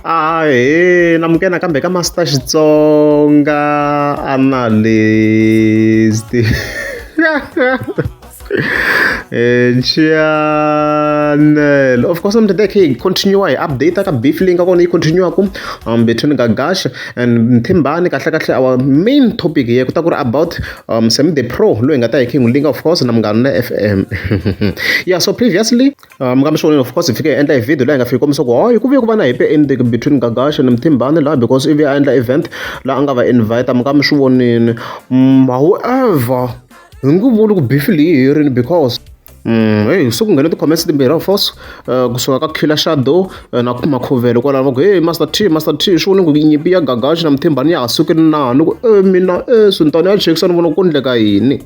ahee na mukena kambe ka master xitsonga analyst eh, channel of course mtete khe hi continue hi update ka beef leyi nga kona yi continue ku um between gagash and mthimbani kahle kahle our main topic ye ku ta ku ri about um semi the pro loyi hi nga ta hi khe hi n'wi linga of course na munghana na fm yeah so previously Ah, mukamba xivonelo of course hi fike hi endla hi video laha hi nga fiki kombisa ku hoyi ku vuye ku va na hepe ending between gagash and mthimbani laha because ivi a endla event laha a nga va invite mukamba xivonini mm, however hi nge vuli ku bifi leyi herini because Mm, hey, so ku nghene ti-comments timbirhi of course uh, kusuka ka killer shadow uh, na kuma khuvelo kwalaho va ku hey master t master t swi vone ku nyimpi ya gagashi na mthimbani ya ha suki na ni ku e mina e swintani ya chekisa ni vona ku endleka yini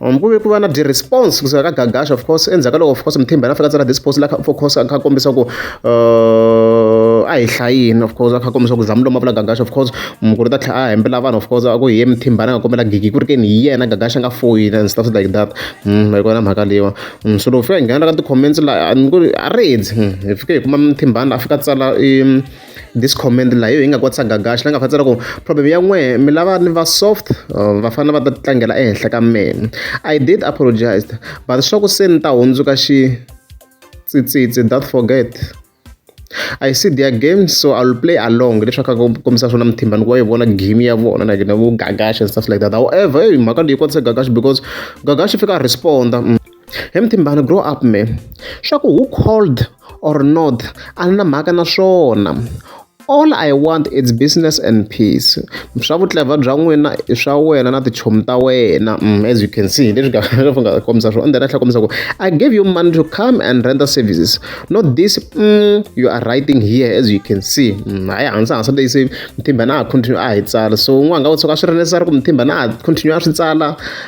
Um, ku ve ku va na ti-response kusuka ka gagasha of course endzhaku ka loko of course mithimba yena a fika tsala this post la for course a kha kombisa ku uh, a hi hlayini of course a kha kombisa ku zamu lomavula gagasha of course mukuru ta tlhela a hembela vanhu of course a ku hi ye mithimbana a nga kombela gigi ku ri keni hi yena gagasha nga foyini and stuff like that mm, hi kona mhaka leyiwa mm, so loko fika hi nghena ka ti-comments la a ri hedzi mm, hi fike hi kuma mithimbana a fika tsala in this comment laha yo hi nga kotisa gagaxa la nga fanisa loko problem ya n'we mi lava ni va soft uh, va fanele va ta tlangela ehenhla ka mina i did apologize but swa ku se ni ta hundzuka xi tsitsitsi that forget I see their game so I'll play along leswaku a kombisa swona muthimba ni ku va yi vona game ya vona like na vu gagash and stuff like that however hey mhaka leyi kotisa gagash because gagash fika a responda mm. Hi muthimbana grow up me. Swa ku who called or not a ni na mhaka na swona. All I want it's business and peace. Swa vutlevha bya n'wina i swa wena na tichomi ta wena mm, as you can see hi leswi nga kombisa swona. And then a tlhela kombisa ku I gave you money to come and render services not this mm, you are writing here as you can see. Mm, hayi hansi hansi leyi se muthimbana a continue a hi tsala so n'wana nga u tshuka a swi ri necessary ku muthimbana a continue a swi tsala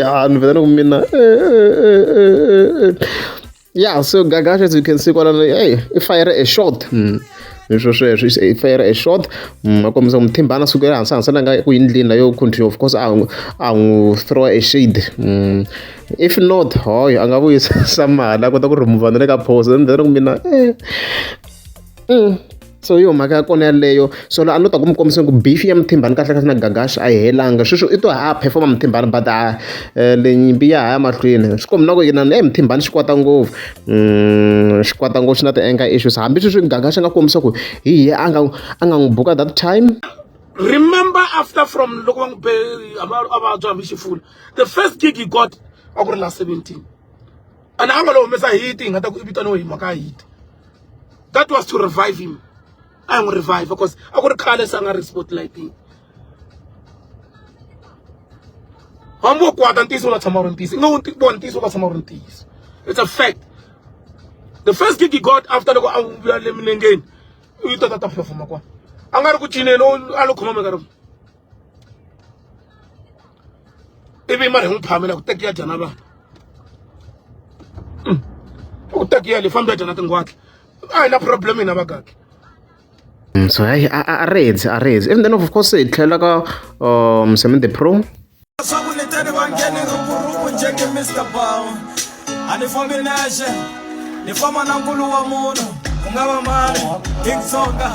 ya ni vheta ni ku mina ya so gagasha as you can see kwalano hey i fire a shot hmm. leswo sweswo i fire a shot hmm, a kombisa muthimbana suku ya hansi hansi langa ku yindlini la yo continue of course a n'wi throw a shade hmm. if not hoyo a nga vuyisa mali a kota ku remova na le ka phosa ni vheta ni ku mina eh. so yo mhaka ya kona yaleyo so la a no ta ku mi kombisa ku beef ya muthimbani kahle kahle na gagashi a yi helanga sweswo i to ha performa muthimbani but a eh, le nyimpi ya ha ya mahlweni swi kombi na ku yina e muthimbani xi kwata ngopfu mm, xi kwata ngopfu xi na ti-anger issues hambi sweswi gagashi a nga kombisa ku hi hi a nga a nga n'wi buka that time remember after from loko va n'wi be a vabya hambi xifula the first gig he got a ku ri la 17 and a nga lo humesa hit hi nga ta ku i vitaniwe hi mhaka hit that was to revive him a n'wi revive because a ku ri khale se a nga ri spotlighting hambi wo kwata ntiyiso u nga tshama u ri ntiyiso i nga wu vona ntiyiso u nga tshama u ri ntiyiso it's a fact the first gig he got after loko a vuya le milengeni u yi tota ta performa kwana a nga ri ku cineni a lo khoma mekaro ivi mara hi n'wi phamela ku tekiya dyana vanhu mm. ku tekiya le fambi ya dyana tingwatla a hi na problem hina vakaki mm, so hayi a redzi a redzi and then of course hi tlhela ka um semin the pro leswaku ni tani va nghene ngopfu njenge mr bow a ni fambi nexe ni famba na nkulu wa munhu ku nga va mani hi ntsonga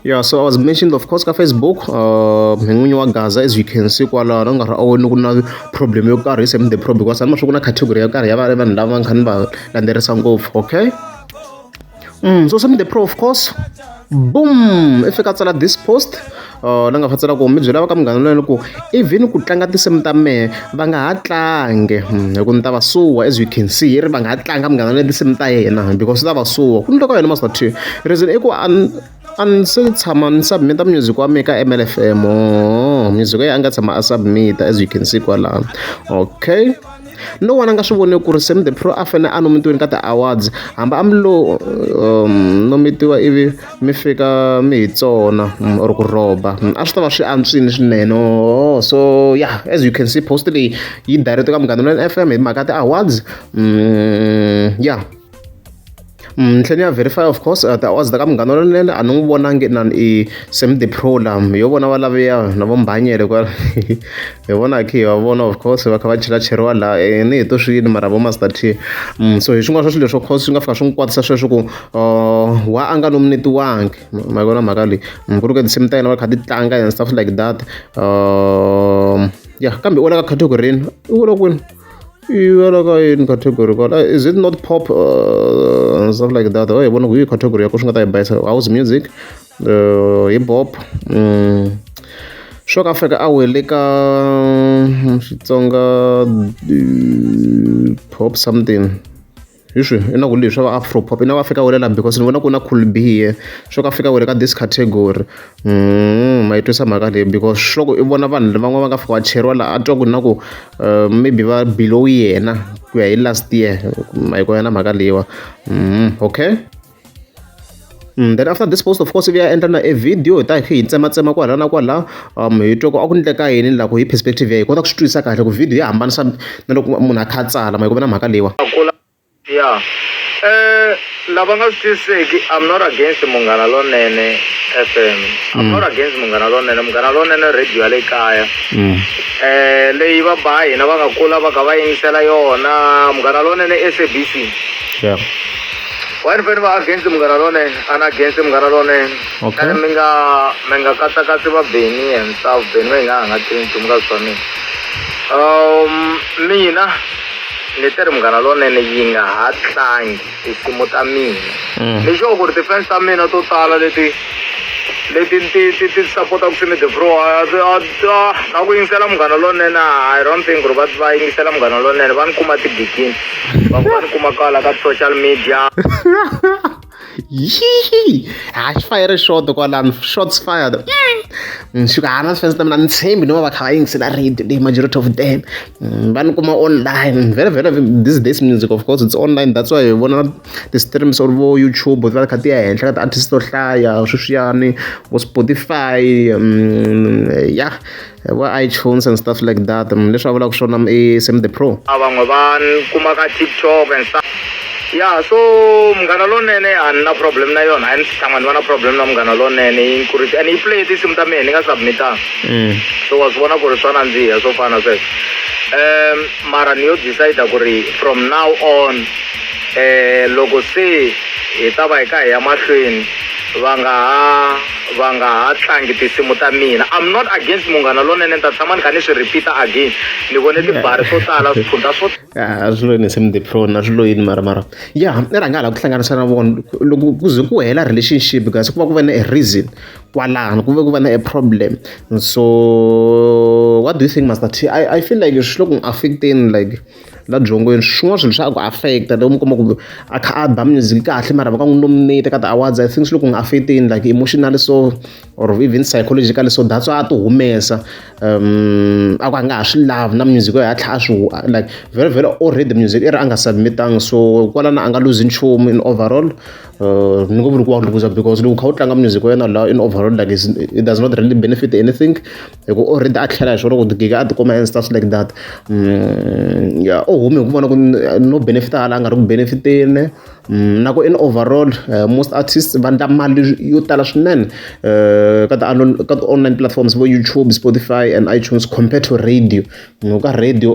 yeah so i was mentioned of course ka facebook uh, n'winyi wa gaza as you can see kwalaho na nkarhi a woni ku na problem yo karhi same the problem because anima swi ku na category yo karhi ya va vanhu lava nkhani va landzelerisa ngopfu okay mm, so same the pro of course boom i fika tsala this post uh, la nga fa tsala ku mi byela va ka munghana loyena ku even ku tlanga tinsimu ta mehe va nga ha tlange hmm, hi ku ni ta va suwa as you can see i ri va nga ha tlanga munghana loyena tinsimu ta yena because swi ta va suwa ku ni loko yena masati reason i ku a ni se tshama ni submit-a music wa mina ka M_L_F_M oo music ya yena a nga tshama a submit-a as you can see kwalano okay no one a nga swi voni ku ri Sam the Pro a fanele a nomitiweni ka ti-awards hambi a mi lo um, nomitiwa ivi mi fika mi hi tsona mm, or ku rhoba mm, a swi ta va swi antswini swinene oh, so yeah as you can see post leyi yi direct ka munghana lweni F_M hi mhaka ti-awards mm, yeah ni tlhela ni ya verify of course a tiawara ta ka Munghana Lonene a ni n'wi vonangi inana i Sam the Pro la hi yo vona va laviya na vo Mbhanyele kwala hi vona kha hi va vona of course va kha va chelacheriwa laha e ni hi to swi yini mara vo Master T so hi swin'wana swa swilo leswo course swi nga fika swi n'wi kwatisa sweswo ku wa a nga nominetiwangi ma vona mhaka leyi ku ri ka tinsimu ta yena va kha ti tlanga and stuff like that ya kambe u la ka category-ni u wela kwini. iwela ka yini category kwala eh, is it not pop uh, and stuff like that oye oh, vona ku yi category ya ku swi nga ta yi bayisa house music uh, hip hop mm. swo ka fika a wele ka mm, xitsonga uh, pop something hi swi i na ku leswi va afro pop i na va fika wele laha because ni vona ku na cool b here swo ka fika wele ka this category mm ma yi twisa mhaka leyi because swo ku i vona vanhu van'wana va nga fika va cheriwa laha a twa ku na ku eh, maybe va below yena ku ya hi last year ma yi kona na mhaka leyiwa mm okay then after this post of course ivi ya endla na e video hi ta hi tsematsema kwala na kwala um hi twa ku a ku ndleka yini ni la ku hi perspective ya hi kota ku swi twisisa kahle ku video ya hambanisa na loko munhu a kha a tsala ma yi ku na mhaka leyiwa ya um lava nga swi twisiseki i'm not against munghana lonene fm i'm not against munghana lonene munghana lonene radio ya le kaya um leyi va ba hina va nga kula va kha va yingisela yona munghana lonene sabc yeah wena fane va against munghana lonene an against munghana lonene Okay. and mi nga mi nga katsakatsi va beni and stuff beni va yi nga hanga tivi nchumu ka swa mina um mina ni te ri munghana lonene yi nga ha tlangi tinsimu ta mina Mm. ni sure ku ri ti-fans ta mina to tala leti leti ti ti ti sapota ku simi debro na ku yingisela munghana lonene i don't think ku ri va va yingisela munghana lonene va ni kuma tigigini van'wani kuma kwala ka social media yii ha xi fayere xoto kwalano shots fired ni fika hana swi fense ta mina ni tshembi no va va kha va yingisela radio leyi majority of them mm, va ni kuma online very very this days music of course it's online that's why hi vona ti-streams or vo youtube ti va kha ti ya henhla ka ti-artist to hlaya sweswiyani vo spotify mm, ya yeah. va iTunes and stuff like that mm, leswi a vulaka swona mm, i Sam the Pro a van'we va kuma ka TikTok and stuff ya so munghana lonene a ni na problem na yona a ni tshama ni va na problem na munghana lonene yi ni kurisa and yi play tinsimu ta mina ni nga submitanga mm. so wa swi vona ku ri swa nandziha swo fana sweswo um mara ni yo decide ku ri from now on um loko se hi ta va hi ka hi ya mahlweni va nga ha va nga ha tlangi tinsimu ta mina I'm not against Munghana Lonene ni ta tshama ni kha ni swi repeat-a again ni vone tibari swo tala swikhundla swo a swi loyini se mudipron a swi loyini mara mara ya i rhanga hala ku hlanganisa na vona loko ku ze ku hela relationship kasi ku va ku va na a reason kwalano ku ve ku va na a problem so what do you think master t i, I feel like swi le ku affecteni like la byongweni swin'wana swilo swa ku affect loko mi kuma ku a kha a ba music kahle mara va ka n'wi nominate ka ti-awards i think swi loko n'wi affectini like emotionally so or even psychologically so that's why a ti humesa um a ku a nga ha swi lavi na music yo hatlha a swi like very very already music i ri a nga submitanga so kwalana a nga luzi nchumu in overall uh, ni ngo vuri ku wa luza because loko u kha u tlanga music wa yena lawa in overall like it does not really benefit anything hi ku o rhandza a tlhela hi swona loko gega a tikuma and stuff like that ya u hume hi ku vona ku no benefit hala a nga ri ku benefit-eni na ku in overall most artists va endla mali yo tala swinene ka ti ka ti-online platforms vo YouTube, Spotify and iTunes compared to radio loko ka radio .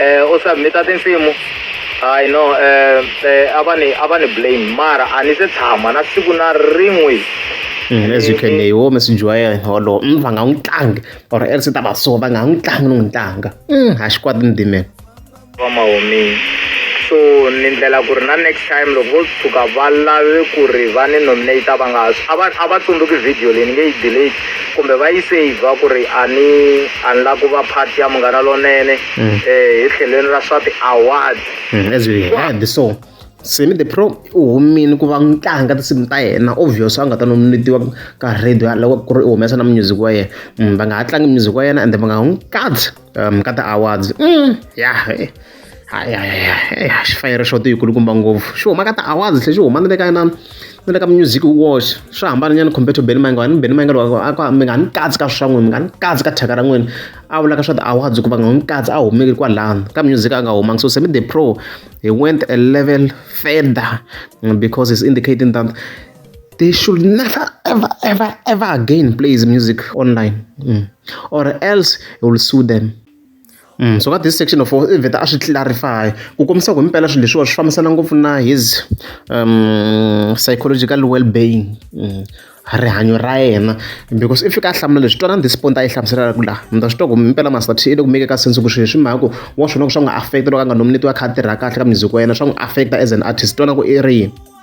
eh u submita tinsimu hayi no eh, eh a va ni a va ni blame mara a ni se tshama na siku na rin'we mm, as you can wo messenger wa yena wolowo mm, va nga n'wi tlangi or else ta va so va nga n'wi tlangi ni n'wi tlanga mm, ha xi kwati ni dimela va mahomini so ni ndlela ku ri na next time loko vo tshuka va lave ku ri va ni nominate va nga a va tsundzuki video leyi ni nge yi delete kumbe va yi saver ku ri a ni a ni la ku va part ya munghana lonene um hi tlhelweni ra swa ti-award mm, as we heard so semi the pro u humile ku va tlanga tinsimu ta yena obvious a nga ta nominatiwa ka radio loko ku ri u humesa na music wa yena mm, va nga ha tlangi music wa yena ende va nga n'wi katsi um ka ti-awards mm, ya eh, eh, xifayere xo ti yikulukumba ngopfu xi huma ka ti-awards tlhe xi huma ni le ka na ni le ka music watch swi hambananyana compare to beni mayinga ni beni mayinga loko a mi nga ni katsi ka swa n'wini mi nga ni katsi ka thyaka ra n'wini a vulaka swa ti-awards hikuva nga n'wi katsi a humeki kwalano ka music a nga humangi so semi the pro he went a level further mm, because he's indicating that they should never ever ever ever again play his music online mm. or else he will sue them Mm, so ka this section of i vheta a swi clarify ku kombisa ku himpela swilo leswiwa swi fambisana ngopfu na his um, psychological well being mm, rihanyo ra yena because if fika a hlamula leswi twanani this point a yi hlamuselaka ku laha mi ta swi twa ku mpela masati i le ku meke ka sense ku swilo swi mhaka ku wa swona ku swa n'wi affect loko a nga nominetiwa kha a tirha kahle ka music wa yena swa n'wi affect as an artist twana ku i ri yini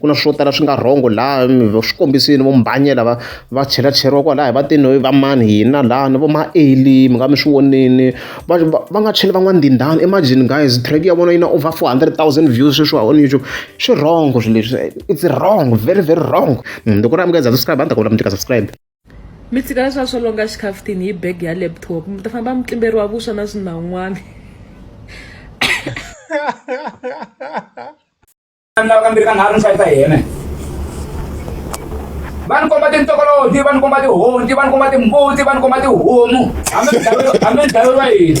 ku na swo tala swi nga wrong laha swi kombisile vo mbhanye lava va chelacheriwa kwalaya va te no va mani hina laha ni vo ma eli mi nga mi swi vonile va va va nga cheli van'wana ndindani imagine guys track ya vona yi na over four hundred thousand views sweswiwa on youtube swi wrong swilo leswi it's wrong very very wrong mm, loko ri amukela za subscribe a ni ta ku vula mi tika subscribe mi tshika leswiwa swo longa xikhaftini hi bag ya laptop mi ta famba mutlimberi wa vuswa na swinan'wana lava kambirhi ka nharhu ni xavisa hi yena va ni komba tintokoloji va ni komba tihonci va ni komba timbuti va ni komba tihomu hambi hambi dlayo ra yini